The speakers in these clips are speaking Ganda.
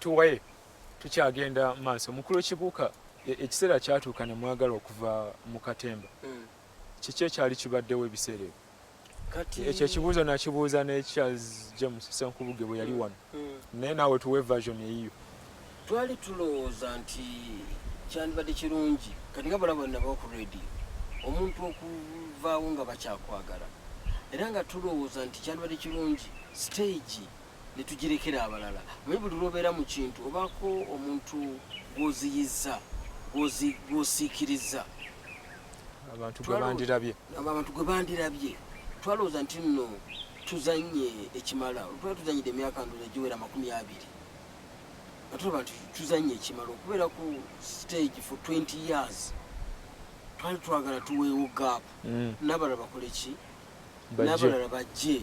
tuwaye tukyagenda maaso mukulu kibuuka e, ekiseera kyatuuka ne mwagala okuva mu katemba hmm. kiki ekyali kibaddewo ebiseera ebyo ekyo ekibuuzo nakibuuza ne charles james senkubuge bwe yali hmm. wano hmm. naye naawe tuwe version eyiyo Twali tulowooza nti kyandibadde kirungi kati nga balaba nabo ku radio omuntu okuvaawo nga bakyakwagala era nga tulowooza nti kyandibadde kirungi siteegi ne tugirekera abalala manye buli lwobeera mu kintu obaako omuntu gwoziyizza gwosiikiriza abantu gwe bandirabye twalowooza nti nno tuzanye ekimala olwali tuzanyidde emyaka ndoza giwera amakumi abiri atulaba nti tuzanye ekimala okubeera ku stage for 20 years twali twagala tuweewo gap mm. nabalala bakole ki nabalala bajje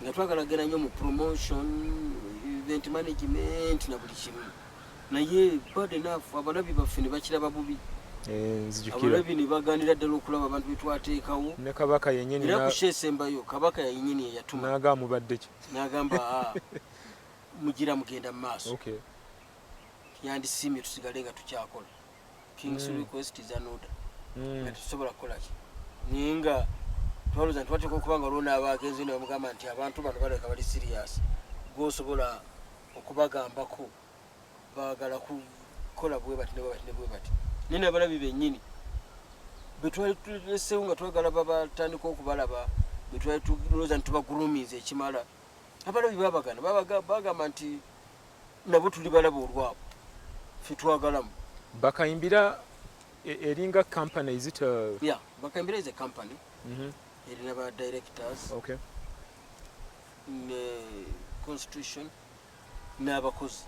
nga twagala genda nyo mu promotion event management na buli kimu naye bad enough abalabi baffe ne bakiraba bubi eh, abalabi ne baganira ddala okulaba abantu betwateekawo ne kabaka yenyini era kushesembayo kabaka yenyini eyatuma nagamubadde ki nagamba ah. mugira mugenda mumaaso okay. yandisiimye tusigale nga tukyakola kings mm. request is an order mm. nga tetusobola kukolaki naye nga twaloza nti wateeka okuba nga olwona aba agenze ne bamugamba nti abantu bano baleka bali sirias gwosobola okubagambako bagala kukola bwebati nebwebati nebwebati naye nabalabi benyini betwali tulesewo nga twagala babatandika okubalaba betwali tuloza nti tubagulumiza ekimala abalabi babagana bagamba nti nabo tuli balaba olwabo fetwagalamu bakayimbira e, eringa company is it a... yeah bakayimbira is a company mm -hmm. erina ba directors okay ne constitution n'abakozi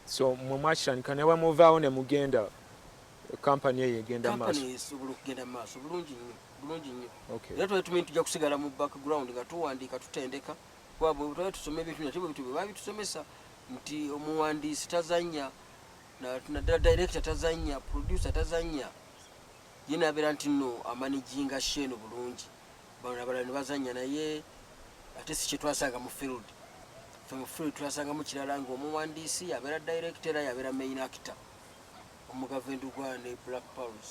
so mwe mwakitandika ne bamuvaawo ne mugenda kampani eyo egenda maaso esobola okugenda maaso bulungi nnyo bulungi nnyo era twali tumanyi tujja kusigala mu background nga tuwandiika tutendeka kuba bwetwali tusoma ebintu nate bwebitu bwe babitusomesa nti omuwandiisi tazanya naddala director tazanya producer tazanya ye nabeera nti no amanijinga sheeno bulungi bano abalala ne bazanya naye ate si kyetwasanga mu field fe mu field twasangamu kirala nga omuwandiisi yabeera director era yabeera main actor omugavendu gwa ne black pals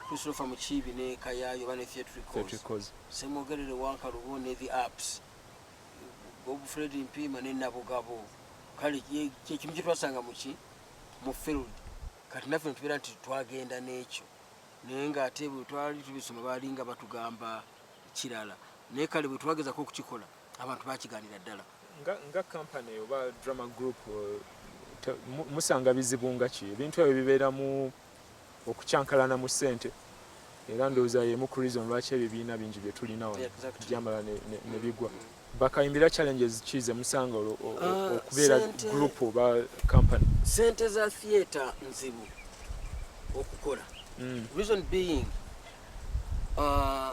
Christopher Mukiibi ne Kayaayo oba ne Theatricals, Ssemwogerere Wankalubo ne The Apps, Bob Fred Mpiima ne Nabugabo. Kale kyekimu kyetwasanga muki mu field kati naffe netubeera nti twagenda n'ekyo naye nga ate bwe twali tubisoma baali nga batugamba kirala naye kale bwe twagezako okukikola abantu bakiganira ddala nga kampany oba drama group eh, musanga bizibu nga ki ebintu ebyo bibeeramu Okukyankalana mu ssente era ndowooza y'emu ku reason lwaki ebyo ebibiina bingi bye tulina wano byamala ne bigwa. Bakayimbira challenges ki ze musanga ah, okubeera group oba company? Ssente za theatre nzibu okukola. Hmm. Reason being uh,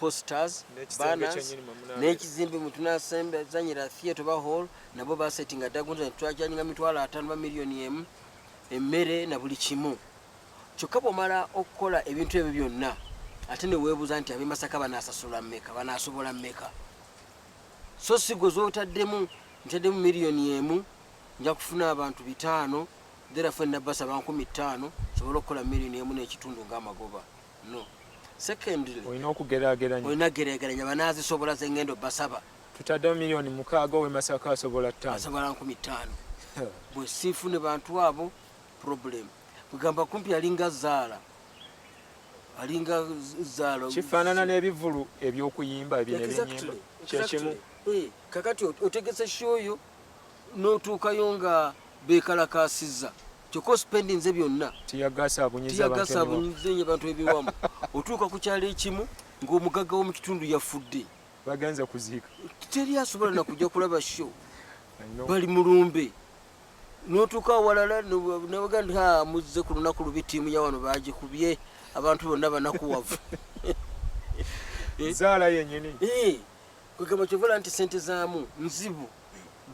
posters banners n'ekizimbe mwe tunasembezanyira theatre ba hall nabo basetinga dda gunta netwajanyiga mitwalo ataano ba miliyoni emu emmere na buli kimu kyokka bwomala okukola ebintu ebyo byonna ate neweebuuza nti abemasaka banasasula mmeka banasobola mmeka so sigo zotaddemu ntaddemu miliyoni emu nja kufuna abantu bitaano therafe nabasaba nkumi ttaano sobole okukola miliyoni emu n'ekitundu ng'amagoba no secondly olina okugerageranya olina gerageranya banazisobola zengendo basaba tutaddewo miliyoni mukaaga owe masaka asobola ttaano asobola nkumi ttaano bwe siifune bantu abo problem kugamba kumpi yalinga zaala alinga zaala kifaanana n'ebivulu eby'okuyimba ebyo nebyenyimba kyekimu eh, kakati otegese shoyo notuukayo nga bekalakaasizza kyokka osipendinze byonna tiyagasa abunyizenyo abantu ebiwamu otuuka ku kyalo ekimu ng'omugagga w'omu kitundu yafudde bagenze kuziika teri asobola nakujja kulaba sho bali mulumbe notuuka awalala nabaga nti muzze ku lunaku lubi tiimu ya wano bagikubye abantu bonna banakuwavu eh? zaala yenyini eh. kwegamba kyovola nti sente zamu nzibu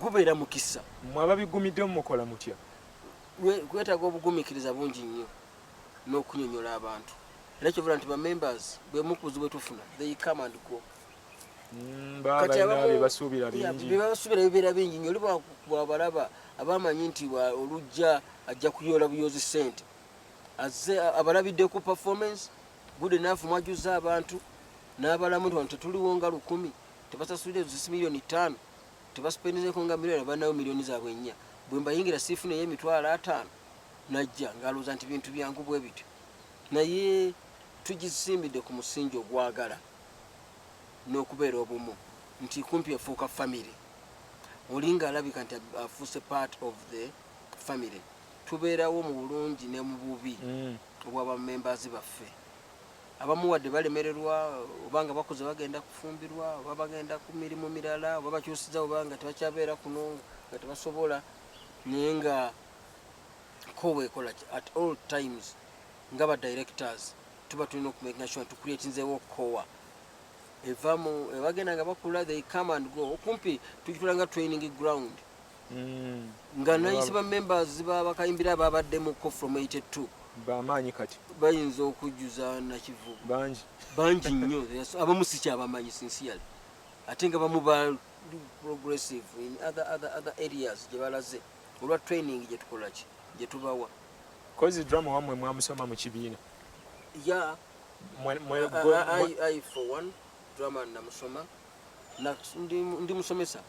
gubeera mukisa mwe ababigumidde mukola mutya kwetaga obugumikiriza bungi nnyo n'okunyonyola abantu era kyovola nti bamembers bwemukuzi bwetufuna they come and go mm, bebasuubira bibeera bingi nyo oli bwabalaba abamanyi nti olujja ajja kuyoola buyoozi sente aze abalabidde ku performance good enough mwajuza abantu n'abalamu nti wano tetuliwo nga lukumi tebasasulira zisi miliyoni ttaano tebasipendizeko nga miliyoni abanawo miliyoni zaabwe nnya bwe mbayingira siifuna ey'emitwalo ataano najja ng'alowooza nti bintu byangu bwe bityo naye tugisimbidde ku musingi ogwagala n'okubeera obumu nti kumpi efuuka famire oli ng'alabika nti afuuse part of the famire tubeerawo mu bulungi ne mu bubi mm. obwa bamembazi baffe abamu wadde balemererwa oba nga bakuze bagenda kufumbirwa oba bagenda ku mirimu mirala oba bakyusiza oba nga tebakyabeera kuno nga tebasobola naye nga ko wekola at all times nga ba directors tuba tulina okumakinasua tukuletinzewo kowa evamu ebagenda nga bakula they come and go okumpi tukitulanga training ground mm. nga nayise ba members babakayimbira ababaddemuko from 82 bamaanyi kati bayinza okujjuza nakivubu bangi bangi nnyo abamu sikyabamanyi sinsiyale ate nga bamu ba progressive in other, other, other areas gye balaze olwa training gye tukolaki gye tubawa kozi drama wamwe mwamusoma mu kibiina ya i for one drama namusoma ndi musomesa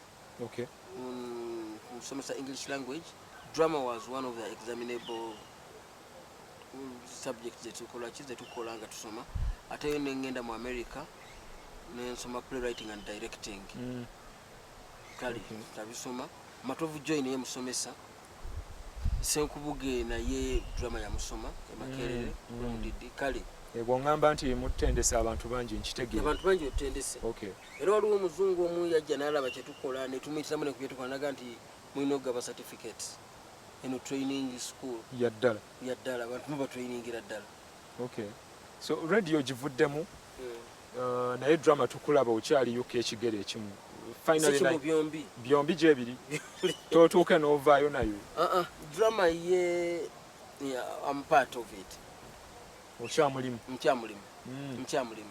okay. um, kusomesa english language drama was one of the examinable subject zetukola ki zetukola nga tusoma ate yo nengenda mu america nensoma playwriting and directing mm. kale okay. tabisoma matovu join ye musomesa senkubuge naye drama yamusoma emakerere mm. mm. kale ebwo ngamba nti mutendesa abantu bangi nkitegeera abantu bangi otendese okay. Era waliwo omuzungu omu yajja n'alaba kye tukola ne tumuyitiramu ne ku bye tukola n'aga nti mulina okugaba certificate eno training school ya ddala ya ddala abantu muba trainingira ddala. Okay. So radio ogivuddemu hmm. uh, naye drama tukulaba okyali UK ekigere ekimu finally byombi byombi gyebiri totuuke n'ovaayo nayo. Uh -uh. Drama ye yeah, I'm part of it. Okyamulimu. Nkyamulimu. Mm. Nkyamulimu.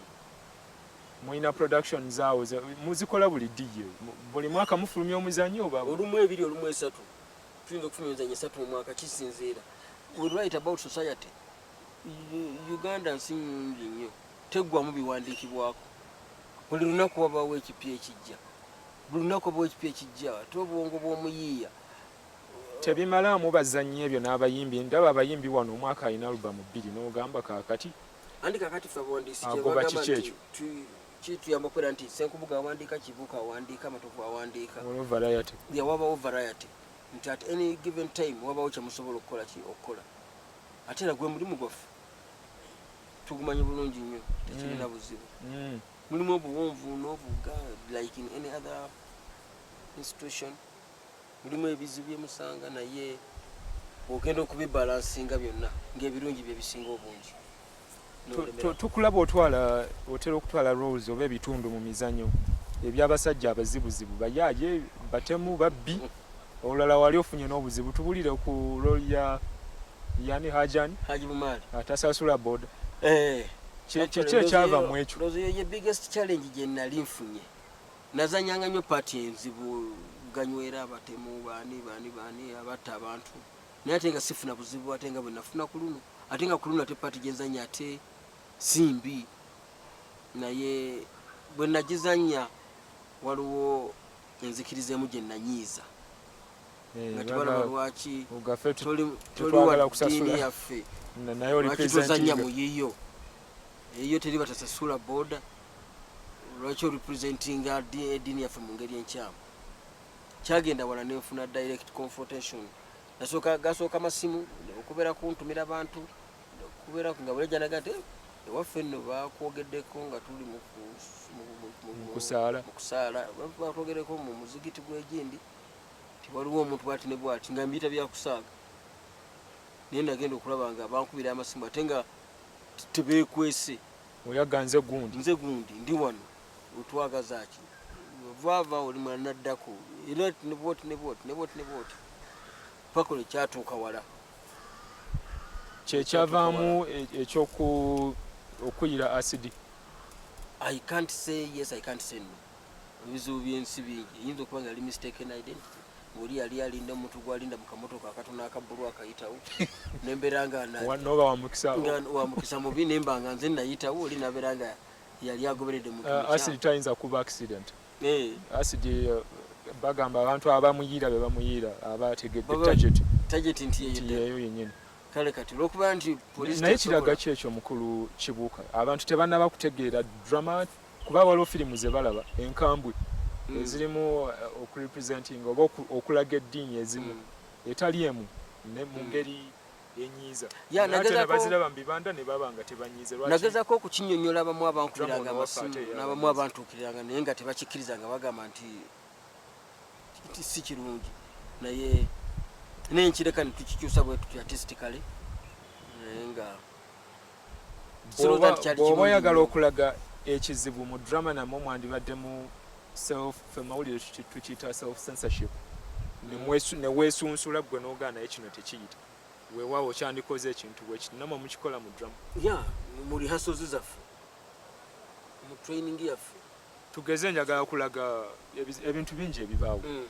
Mulina production zaawo muzikola buli ddi? Ye buli mwaka mufulumya omuzanyo oba olumu ebiri olumu esatu? Tuyinza okufulumya emizanyo esatu mu mwaka, kisinziira. We write about society. Uganda nsi nyingi nnyo, teggwamu biwandiikibwako. Buli lunaku wabaawo ekipya ekijja, buli lunaku wabaawo ekipya ekijja ate obwongo bw'omuyiiya tebimalaamu bazannyi ebyo n'abayimbi. Ndaba abayimbi wano omwaka alina alubamu bbiri n'ogamba kaakati. Andi kakati ffe abawandiisi kyebagamba nti kituyamba okubeera nti Ssenkubuga awandiika Kibuuka awandiika Matovu awandiika wabawo variety nti at any given time wabawo kyemusobola okukola ki okukola ate era gwe mulimu gwaffe tugumanyi bulungi nnyo tekirina mm. buzibu mm. mulimu obuwonvu nobuga like in any other institution mulimu ebizibu bye musanga naye ogenda okubibalansinga byonna ng'ebirungi bye bisinga obungi tukulaba otwala otera okutwala roles oba ebitundu mu mizanyo eby'abasajja abazibuzibu bayaaye batemu babbi olulala wali ofunye n'obuzibu tubulire ku rol ya yani hajani atasasula boda eh, kyekyo ekyava mu ekyo Nazanyanga nnyo paati enzibu ganywera abatemu baani baani baani abatta abantu naye ate nga sifuna buzibu ate nga bwenafuna ku luno ate nga ku luno ate paati gyenzanya ate si mbi naye bwenagizanya waliwo enzikiriza emu gye nanyiiza eh, nga tebalaba lwaki toli wa ddiini yaffe lwaki tozanya mu yiyo eyiyo teri batasasula booda lwaki orepresentinga ediini yaffe mu ngeri enkyamu kyagenda wala nenfuna direct confrontation nasooka gasooka masimu okubeera kuntumira bantu okubeera nga bulejanaga nti eh, ewaffe nno bakwogeddeko nga tuli mukusaala batwogereko mu muzigiti gwegindi ti waliwo omuntu bwati ne bwati nga mbiyita byakusaaga naye nagenda okulaba nga bankubira amasimu ate nga tebekwese Oyaga nze gundi. Nze gundi ndi wano. Otwagaza ki? Vava oli mwana naddako. Era ne bwoti ne bwoti ne bwoti ne bwoti. Pako ne kyatuuka wala. Kyekyavaamu e, ekyoku okuyira asidi. I can't say yes, I can't say no. ebizibu byensi bingi eyinza okuba nga yali mistaken identity oli yali alinda omuntu gwalinda mu kamotoka akatono akabbulu akayitawo nembeera nga wamukisa mubi nemba nga nze nayitawo oli nabeera nga yali agoberedde mutayinza ah, kuba accident eh. acid eh, bagamba abantu abamuyiira bebamuyiira abategedde target target nti yeyo yenyini kale kati olwokuba nti naye kiraga ki ekyo mukulu kibuuka abantu tebanaba kutegeera drama kuba waliwo firimu ze balaba enkambwe mm. ezirimu eh, okurepresentinga oba okulaga eddiini ezimu mm. etali emu ne mu mm. ngeri enyiiza baziraba mu bibanda ne baba nga tebanyiize nagezako okukinyonyola abamu abankubiranga abasimu n'abamu abantuukiriranga naye nga tebakikkiriza nga bagamba nti si kirungi naye naye nkireka ne tukikyusa bwe tutya artistically naye nga bwoba oyagala okulaga ekizibu mu drama namwe mwandibadde mu self fe mawulire tukiyita self censorship newesunsula gwe nogaa naye kino tekiyita wewawo kyandikoze ekintu bwekiti namwe mukikola mu drama ya mu rehearsals zaffe mu training yaffe tugeze njagala kulaga ebintu bingi ebibaawo mm.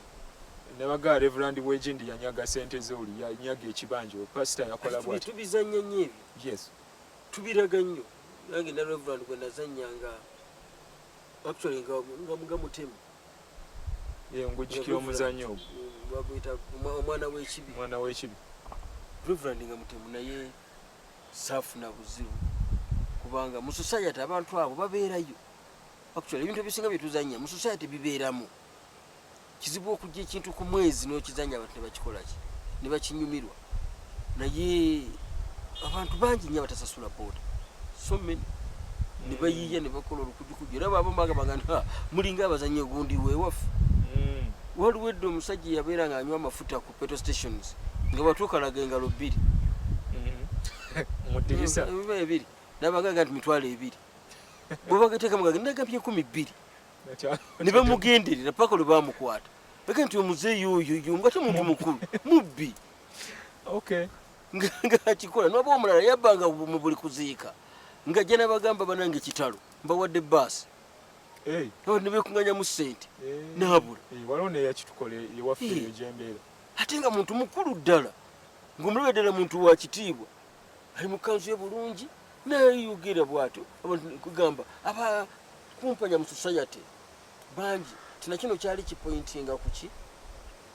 nebagaa reverand wegindi yanyaga sente zoli yanyaga ekibanja pasita yakola bwati tubizanya nyo ebyo Yes. Tubiraga nnyo. Nange ne Reverend gwe nazannya nga actually nga nga mga mutemu. Ye ngujikira omuzanyo. Baguyita omwana w'ekibi. Omwana w'ekibi. Reverend nga mutemu naye saafuna buzibu kubanga mu society abantu abo babeerayo. Actually ebintu ebisinga bye tuzannya mu society bibeeramu. kizibu okujja ekintu ku mwezi n'okizanya abantu ne bakikola ki ne bakinyumirwa naye abantu bangi nnyo abatasasula booda so many ne bayiiya ne bakola olukujukuju era baabamu bagambanga nti mulinga abazanyi ogundi weewaffe mm. waliwo edda omusajja eyabeera nga anywa amafuta ku petro stations nga batuukalaga engalo bbiri mm. ebiri nabagaga nti mitwalo ebiri bwebagatekamu gagenda gabye enkumi bbiri ne bamugenderera paka lwe bamukwata eke nti omuzeeyi oyoyo nga te muntu mukulu mubbi ngakikola noba omulala yabbanga mu buli kuziika nga jja nabagamba banange kitalo mbawadde baasi nebekunganyamu sente nabula ate nga muntu mukulu ddala ngaomulabe ddala muntu wakitiibwa ali mu kanzu ye bulungi neyeyogera bwatyo kugamba aba kumpanya mu society bangi tina kino kyali kipointinga kuki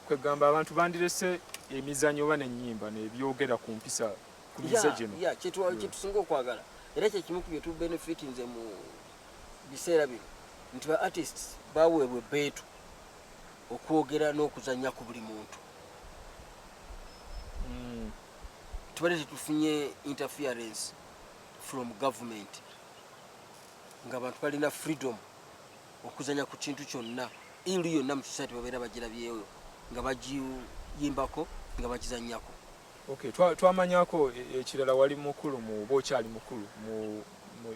kwegamba abantu bandirese emizanyo oba nenyimba nebyogera ku mpisa ku mize gino kyetusinga okwagala era kyekimu ku byetu benefit nze mu biseera bino nti ba artists baweebwa ebbeetu okwogera n'okuzanya ku buli muntu tubadde tetufunye interference from government nga abantu balina freedom okuzanya ku kintu kyonna ilu yonna mu society babeera bagirabyeyo nga bagiyimbako nga bagizanyako okay twamanyako e, ekirala wali mukulu mu oba okyali mukulu mu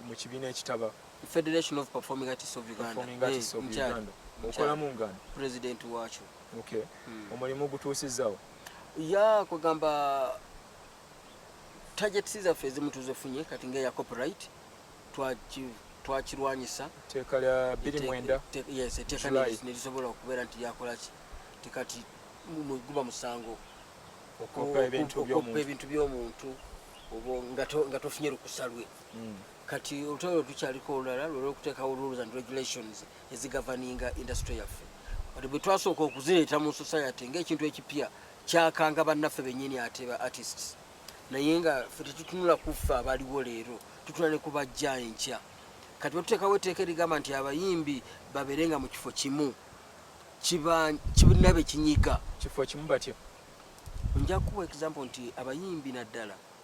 mu kibiina ekitaba federation of performing artists of uganda okolamu ngani president wakyo okay hmm. omulimu gutuusizzawo ya kwegamba targets zaffe ezimu tuzifunye kati ngeya copyright twakirwanyisa teeka lya 29 yes eteeka nerisobola okubeera nti lyakolaki tekati guba musango okoppa ebintu by'omuntu nga tofunye lukusa lwe hmm. kati olutalo lwe tukyaliko olulala lwera okuteekawo rules and regulations ezigavaninga industry yaffe ati bwe twasooka okuzireeta mu society ng'ekintu ekipya kyakanga bannaffe bennyini ate ba artists naye nga fe tetutunula kuffe abaliwo leero tutula ne kubajja enkya kati batuteekawo etteeka erigamba nti abayimbi babeere nga mu kifo kimu kibnabe kinyiga kifo kimu batyo nja kuwa example nti abayimbi naddala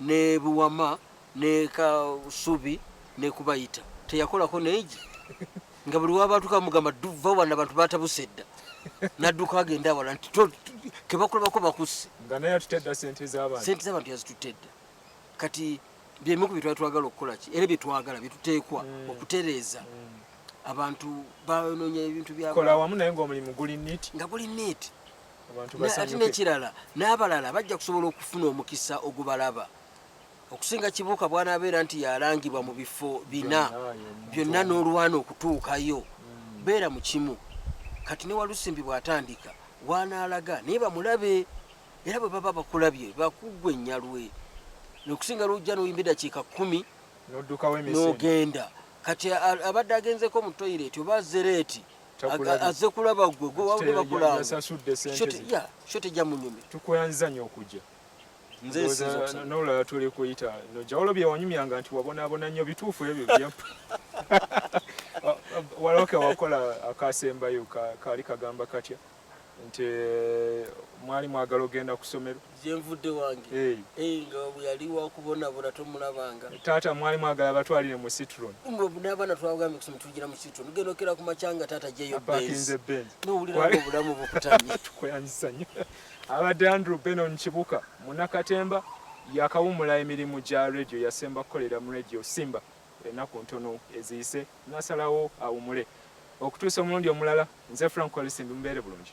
ne Buwama ne Kasubi ne Kubayita teyakolako neegi nga buli wabatuka mugamba duva wana abantu batabuse dda nadduka agenda awala nti kebakulabako bakusse sente zabantu yazitutte dda kati byemu ku byetwali twagala okukola ki era byetwagala byetuteekwa mm. okutereeza mm. abantu banonya ebintu byakola wamu naye ngaomulimu guli nit nga guli nit ate nekirala n'abalala bajja kusobola okufuna omukisa ogubalaba okusinga kibuuka bwanabeera nti yalangibwa mu bifo bina byonna n'olwana okutuukayo hmm. beera mu kimu kati ne walusimbi bw'atandika wanaalaga naye bamulabe era bwe baba bakulabye bakuggwa ennyalwe nokusinga lwojja noyimba edakiika kumi n'ogenda kati abadde agenzeko mu toyireti oba zereeti azze kulaba gwe gwe wabadde bakulaba sho tejja munyumya tukwanza nyo okujja nolaba tuli kuyita nojawolo byewanyumyanga nti wabonabona nnyo bituufu ebyo byampa waloke wakola akasembayo kaali kagamba katya ka nti eh, mwali mwagala ogenda ku ssomero gyenvudde wange eh, nga yali wakubonabona tomulabanga taata mwali mwagala batwalire mu citron n'abaana twagambye kusoma tugira mu citron genda okera ku makyanga taata jeyo apakinze benzi nowuliranga obulamu bukutamye tukuyanyisa nnyo abadde andrew benon kibuka munakatemba yakawumula emirimu gya radio yasemba kukolera mu radio simba Ennaku ntono eziyise nasalawo awumule okutuusa omulundi omulala. Nze Frank Walisimbi mubeere bulungi.